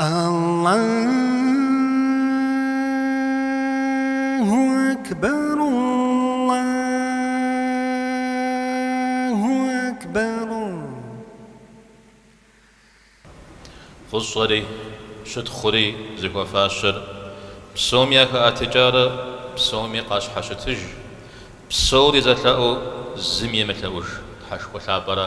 Аллагьу акбар, Аллагьу акбар. Фӏыщӏэри, щытхъури зыхуэфащэр псом яхэӏэтыкӏарэ псоми къащхьэщытыж, псори зэлъэӏуу зыми емылъэӏуж Тхьэшхуэ Лъапӏэра.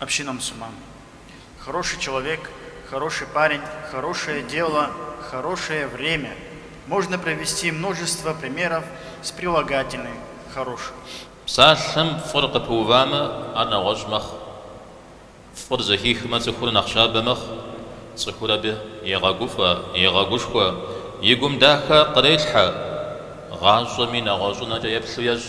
Община мусульман. Хороший человек, хороший парень, хорошее дело, хорошее время. Можно привести множество примеров с прилагательным хороший. Псалъэм фӏыр къыпыувамэ, ар нэгъуэщӏ мэхъу. Фӏыр зэхихмэ, цӏыхур нэхъ щабэ мэхъу, цӏыхур абы егъэгуфӏэ, егъэгушхуэ, и гум дахэ кърелъхьэ, гъащӏэми нэгъуэщӏынэкӏэ еплъу ещӏ.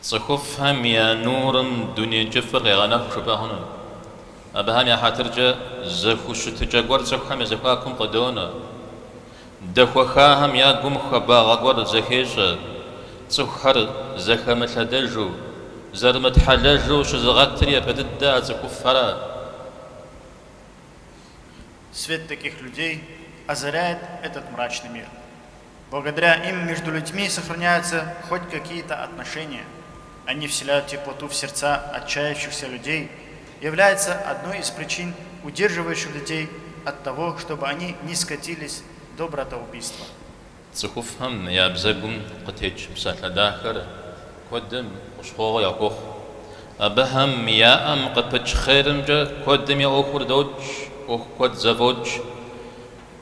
Цӏыхуфӏхэм я нурым дуней кӏыфӏыр къегъэнэху жыпӏэ хъуну. Абыхэм я хьэтыркӏэ зэхущытыкӏэ гуэр цӏыхухэм я зэхуакум къыдонэ. Дэхуэхахэм я гум хуабагъэ гуэр зэхещӏэ, цӏыхухэр зэхэмылъэдэжу, зэрымытхьэлэжу щызыгъэтыр япэ дыдэ а цӏыхуфӏхэра. Свет таких людей озаряет этот мрачный мир. Благодаря им между людьми сохраняются хоть какие-то отношения, они вселяют теплоту в сердца отчаявшихся людей, является одной из причин удерживающих людей от того чтобы они не скатились до братоубийства. Цӏыхуфӏхэм я бзэгум къытекӏ псалъэ дахэр куэдым хущхъуэгъуэ яхуохъу. Абыхэм я ӏэм къыпыкӏ хъерымкӏэ куэдым я ӏуэхур докӏ, ӏуэху куэд зэфӏокӏ.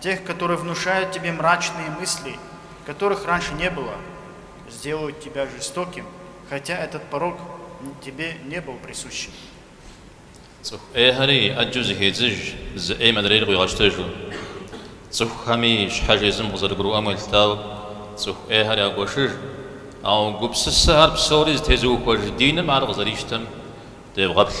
Тех, которые внушают тебе мрачные мысли, которых раньше не было, сделают тебя жестоким, хотя этот порок тебе не был присущим. Цӏыху ӏейхэри ӏэджэу зэхедзыж, зы ӏейм адрейр къуигъэщтэжу. Цӏыхухэми щхьэж езым къызэрыгурыӏуэм елъытауэ, цӏыху ӏейхэр ягуэшыж. Ауэ гупсысэхэр псори зытезыухуэж диным ар къызэрищтэм девгъэплъ.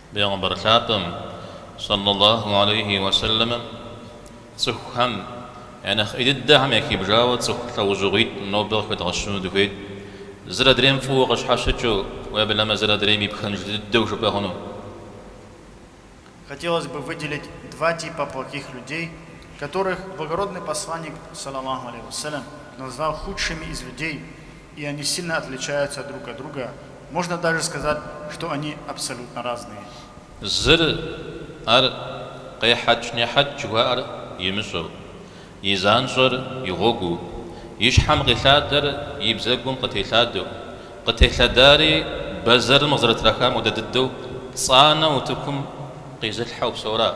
Пэйгъэмбар лъапӏэм, сэллаллаху алейхи уэ сэлэмэм, цӏыхухэм я нэхъ ӏей дыдэхэм яхибжауэ цӏыху лӏэужьыгъуитӏ нобэ къыхэдгъэщыну дыхуейт, зыр адрейм фӏыуэ къыщхьэщыкӏыу, уеблэмэ зыр адрейм и пхэнж дыдэу жыпӏэ хъуну. Хотелось бы выделить два типа плохих людей, которых Благородный Посланник, сэллаллаху алейхи уэ сэлэм, назвал худшими из людей, и они сильно отличаются друг от друга, можно даже сказать, что они абсолютно разные. Зыр, ар, къехьэкӏ-нехьэкӏ жыхуаӏэр имыщӏэу, и занщӏэр и гъуэгуу, и щхьэм къилъадэр и бзэгум къытелъадэу, къытелъадари бэзэрым къызэрытрахам хуэдэ дыдэу, цӏанэу утыкум къизылъхьэу псэура?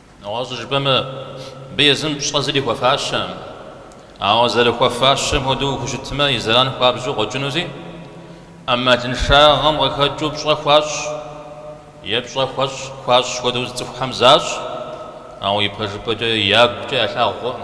Нэгъуэщӏу жыпӏэмэ, абы езым пщӏэ зыри хуэфащэкъым. Ауэ зэрыхуэфащэм хуэдэу ухущытмэ, и зэран хуабжьу къокӏынузи, ӏэмалыншагъэм къыхэкӏыу пщӏэ хуащӏ е пщӏэ хуэщӏ хуащӏ хуэдэу зы цӏыхухэм защӏ, ауэ ипэжыпӏэкӏэ ягукӏэ ялъагъу хъуӏым.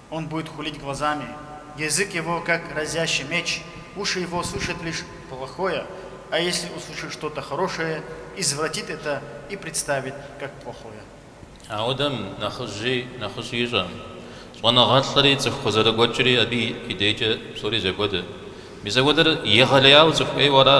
Он будет хулить глазами, язык его, как разящий меч, уши его слышат лишь плохое, а если услышит что-то хорошее, извратит это и представит, как плохое. Апхуэдэм нэхъыжьи нэхъыщӏи ищӏэӏым. Щӏэныгъэлӏри цӏыху къызэрыгуэкӏри абы и дейкӏэ псори зэхуэдэ. Мис апхуэдэр егъэлеяуэ цӏыху ӏейуэ ара?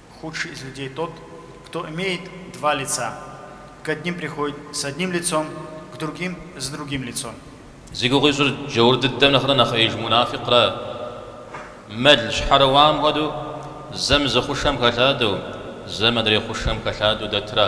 Худший из людей тот, кто имеет два лица, к одним приходит с одним лицом, к другим с другим лицом. Зи гугъу ищӏыр джаур дыдэм нэхърэ нэхъ ӏеиж мунафикъра, мэл щхьэрыуам хуэдэу, зэм зы хъушэм хэлъадэу, зэм адрей хъушэм хэлъадэу дэтра?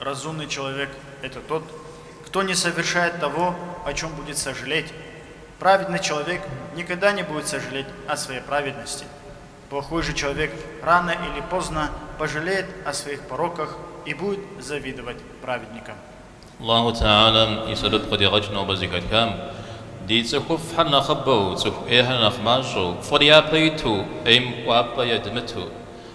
Разумный человек, это тот, кто не совершает того, о чем будет сожалеть, праведный человек никогда не будет сожалеть о своей праведности, плохой же человек рано или поздно пожалеет о своих пороках и будет завидовать праведникам. Аллаху Тэхьэлам и сэбэп къыдигъэкӏ нобэ зэхэтхам. Ди цӏыхуфӏхэр нэхъыбэу, цӏыху ӏейхэр нэхъ мащӏэу, фӏыр япэ иту, ӏейм кӏуапӏэ едмыту.